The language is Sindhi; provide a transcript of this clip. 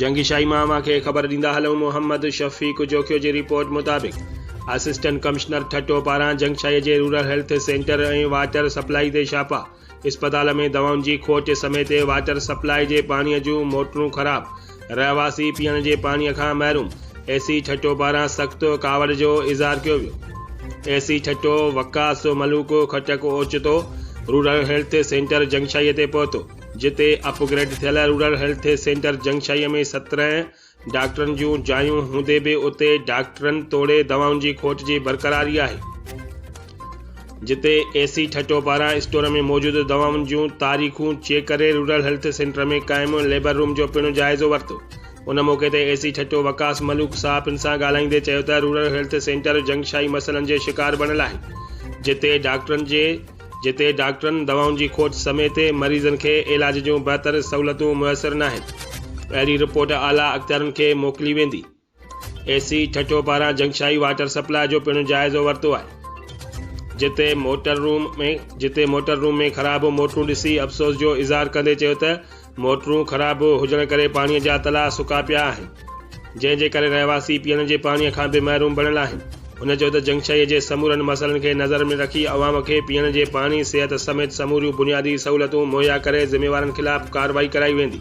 جهنگي شاهي مان اوهان کي خبر ڏيندا هلون محمد شفيق جوکيو جي رپورٽ مطابق اسسٽنٽ ڪمشنر ٺٽو پاران جهنگ شاهي جي rural health centre ۽ water supply تي ڇاپا اسپتال ۾ دوائن جي کوٽ سميت واٽر سپلائي جي پاڻي جون موٽرون خراب رهواسي پيئڻ جي پاڻي کان محروم اي سي ٺٽو پاران سخت ڪاوڙ جو اظهار ڪيو ويو اي سي ٺٽو وقاص ملوڪ خٽڪ اوچتو rural health centre Jhang Shahi تي پهتو جتي اپ گريڊ ٿيل رورل هيلٿ سينٽر جنگشاهيء ۾ سترهن ڊاڪٽرن جون جايون هوندي به اتي ڊاڪٽرن توڙي دوائن جي کوٽ جي برقراري آهي. جتي اي سي ٺٽو پاران اسٽور ۾ موجود دوائن جون تاريخون چيڪ ڪري رورل هيلٿ سينٽر ۾ قائم ليبر روم جو پڻ جائزو ورتو. ان موقعي تي اي سي ٺٽو وقاص ملوڪ صحافين سان ڳالهائيندي چيو ته رورل هيلٿ سينٽر جنگشاهي مسئلن جي شڪار بڻيل آهي جتي ڊاڪٽرن جي جتي ڊاڪٽرن دوائن جي کوٽ سميت مريضن کي علاج جون بهتر سهولتون ميسر ناهن، اهڙي رپورٽ اعليٰ اختيارن کي موڪلي ويندي. اي سي ٺٽو پاران جنگشاهي واٽر سپلاء جو پڻ جائزو ورتو آهي، جتي موٽر روم ۾ جتي موٽر روم ۾ خراب موٽرون ڏسي افسوس جو اظهار ڪندي چيو ته موٽرون خراب هجڻ ڪري پاڻي جا تلاء سڪا پيا آهن، جنهن جي ڪري رهواسي پيئڻ جي پاڻي کان به محروم بڻيل آهن. هن چيو ته جنگشهيء جي سمورن مسئلن کي نظر ۾ رکي عوام کي پيئڻ جي پاڻي، صحت سميت سموريون بنيادي سهولتون مهيا ڪري ذميوارن خلاف ڪارروائي ڪرائي ويندي.